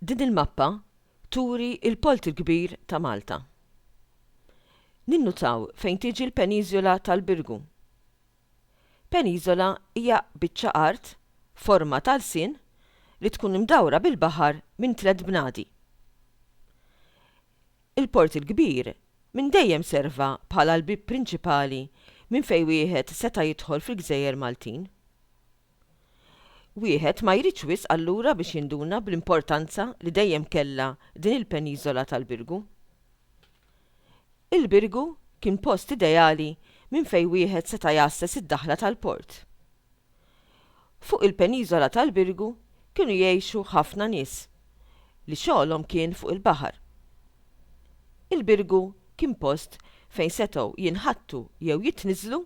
Din il-mappa turi il-polt il-kbir ta' Malta. Ninnutaw fejn tiġi l-peniżola tal-Birgu. Peniżola hija biċċa art forma ta' lsien li tkun imdawra bil-baħar minn tliet bnadi. Il-Port il-Kbir minn dejjem serva bħala l-bieb prinċipali minn fejn wieħed seta' jidħol fil-gżejjer Maltin. Wieħed ma jridx wisq allura biex jinduna bl-importanza li dejjem kellha din il-peniżola tal-Birgu. Il-Birgu kien post ideali minn fejn wieħed seta' jgħasses id-daħla tal-port. Fuq il-peniżola tal-Birgu kienu jgħixu ħafna nies li xogħolhom kien fuq il-baħar. Il-Birgu kien post fejn setgħu jinħattu jew jitniżżlu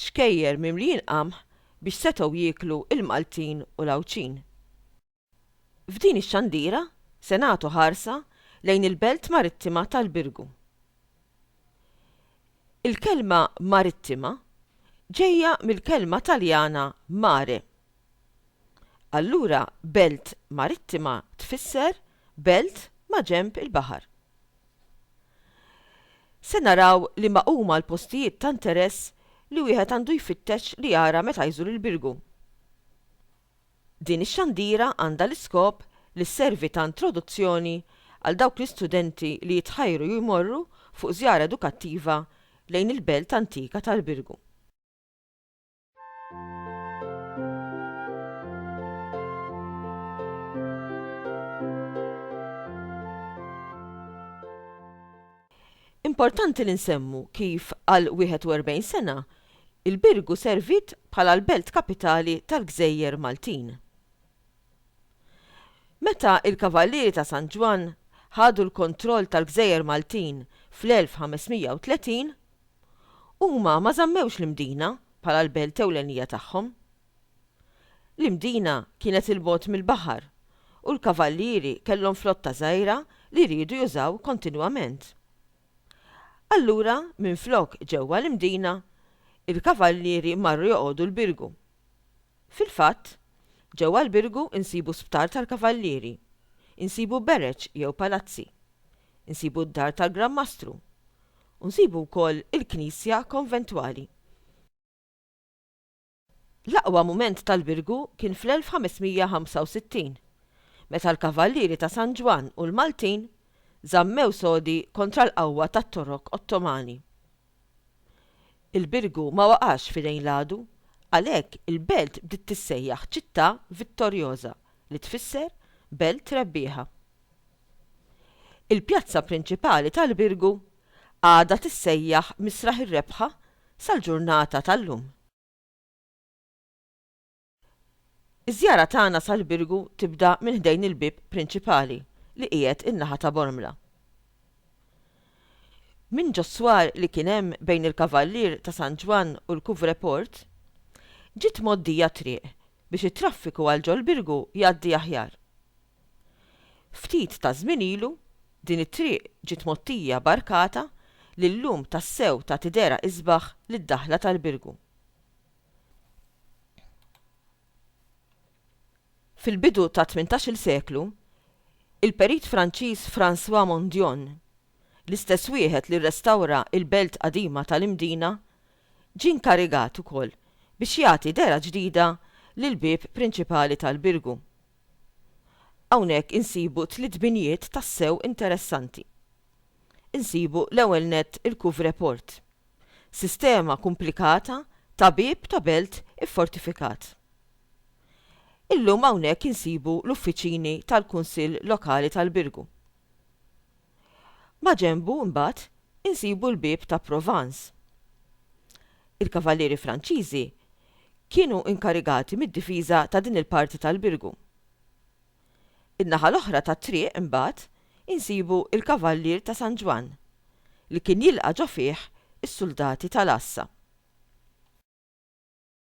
xkejjer mimlijin qamħ biex setgħu jieklu l-Maltin u l-Għawdxin. F'din ix-xandira se nagħtu ħarsa lejn il-belt marittima tal-Birgu. Il-kelma marittima ġejja mill-kelma Taljana mare. Allura belt marittima tfisser belt maġenb il-baħar. Se naraw liema huma l-postijiet ta' interess li wieħed għandu jfittex li jara meta jżur il-Birgu. Din ix-xandira għandha l-iskop li sservi ta' introduzzjoni għal dawk l-istudenti li jitħajru jmorru fuq żjara edukattiva lejn il-belt antika tal-Birgu. Importanti li nsemmu kif għal 41 sena, il-Birgu serviet bħala l-belt kapitali tal-gżejjer Maltin. Meta l-Kavallieri ta' San Ġwann ħadu l-kontroll tal-gżejjer Maltin fl-1530, huma ma żammewx l-Imdina bħala l-belt ewlenija tagħhom, L-Imdina kienet 'il bogħod mill-baħar, u l-kavallieri kellhom flotta żgħira li riedu jużaw kontinwament. Allura minflok ġewwa l-Imdina, il-kavallieri marru joqogħdu l-Birgu. Fil-fatt, ġewwa l-Birgu nsibu sptar tal-kavallieri, insibu bereċ jew palazzi, insibu d-dar tal-Gran Mastru, u nsibu wkoll il-knisja konventwali. L-aqwa mument tal-Birgu kien fl-1565, meta l-Kavallieri ta' San Ġwann u l-Maltin żammew sodi kontra l-qawwa tat-Torok Ottomani. Il-Birgu ma waqax f'idejn l-għadu, għalhekk il-belt bdiet tissejjaħ Città Vittoriosa, li tfisser Belt Rebbieħa. Il-pjazza prinċipali tal-Birgu għadha tissejjaħ Misraħ ir-Rebħa sal-ġurnata tal-lum. Iż-żjara tagħna sal-Birgu tibda minn ħdejn il-bieb prinċipali li qiegħed in-naħa ta' Bormla. Minn ġos-swar li kien hemm bejn il-Kavallier ta' San Ġwann u l-Couvreport, ġiet mgħoddija t-triq biex it-traffiku għal ġol-Birgu jgħaddi aħjar. Ftit ta' żmien ilu, din it-triq ġiet mgħottija b'arkata li llum tassew tagħti dehra isbaħ lid-daħla tal-Birgu. Fil-bidu tat-tmintax-il seklu, il-perit Franċiż François Mondion, l-istess wieħed li rrestawra l-belt qadima tal-Imdina, ġie nkarigat ukoll biex jagħti dehra ġdida lill-bieb prinċipali tal-Birgu. Hawnhekk insibu tliet binjiet tassew interessanti. Insibu l-ewwel nett il-Couvreport, sistema kumplikata ta' bieb ta' belt iffortifikat. Illum hawnhekk insibu l-uffiċini tal-Kunsill Lokali tal-Birgu. Maġenbu, imbagħad, insibu l-bieb ta' Provence. Il-kavallieri Franċiżi kienu inkarigati mid-difiża ta' din il-parti tal-birgu. In-naħa l-oħra tat-triq, imbagħad, insibu l-kavallier ta' San Ġwann, li kien jilqa' ġo fih is-suldati tal-għassa.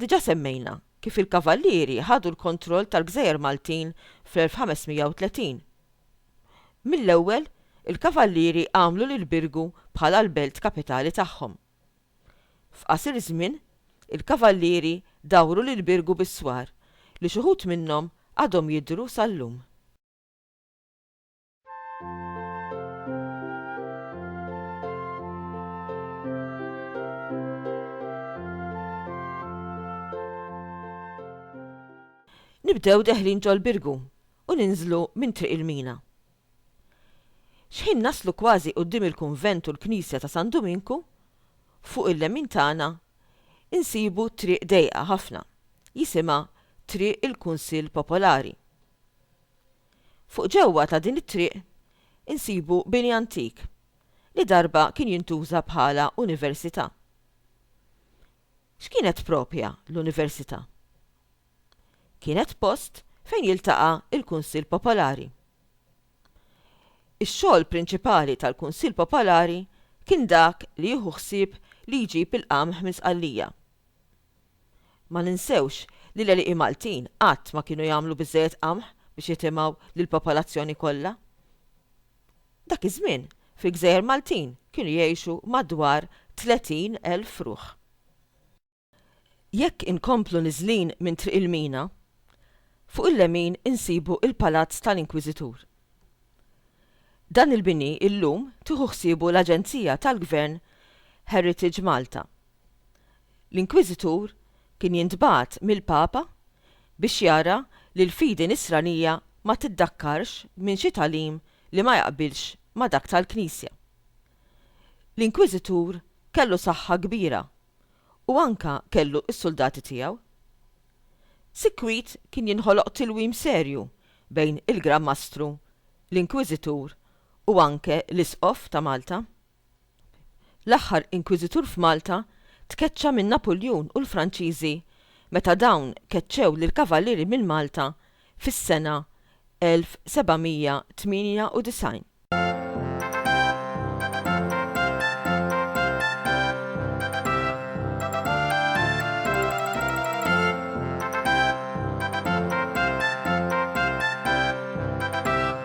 Diġà semmejna kif il-Kavallieri ħadu l-kontroll tal-Gżejjer Maltin fl-1530. Mill-ewwel, il-Kavallieri għamlu lil Birgu bħala l-belt kapitali tagħhom. F'qasir żmien, il-Kavallieri dawru lil Birgu bis-swar li x'uħud minnhom għadhom jidhru sal-lum. Nibdew deħlin ġol birgu u ninżlu minn triq il-mina. Xħin naslu kważi quddiem il-kunvent u l-knisja ta' San Duminku, fuq il-lemin tagħna insibu triq dejqa ħafna, jisimha Triq il-Kunsill Popolari. Fuq ġewwa ta' din it-triq insibu bini antik li darba kien jintuża bħala università. X'kienet proprja l-università? Kienet post fejn jiltaqa' l-Kunsill Popolari. Ix-xogħol prinċipali tal-Kunsill Popolari kien dak li jieħu ħsieb li jġib il-qamħ minn Sqallija. Ma ninsewx li l-għelieqi Maltin qatt ma kienu jagħmlu biżżejjed qamħ biex jitimgħu lill-popolazzjoni kollha. Dak iż-żmien, fil-gżejjer Maltin kienu jgħixu madwar 30 elf ruħ. Jekk inkomplu niżlin minn Triq il-Mina, fuq il-lemin insibu il-Palazz tal-Inkwiżitur. Dan il-bini illum tieħu ħsiebu l-aġenzija tal-Gvern Heritage Malta l-Inkwiżitur kien jintbagħat mill-Papa biex jara li l-fidi Nisranija ma tiddakkarx minn xi tagħlim li ma jaqbilx ma' dak tal-Knisja. L-Inkwiżitur kellu saħħa kbira u anke kellu s-suldati tiegħu. Sikwit kien jinħoloq tilwim serju bejn il-Gran Mastru, l-Inkwiżitur u anke l-Isqof ta' Malta. l-aħħar Inkwiżitur f'Malta, tkeċċa minn Napuljun u l-Franċiżi meta dawn keċċew lill-Kavalieri minn Malta fis-sena 1798.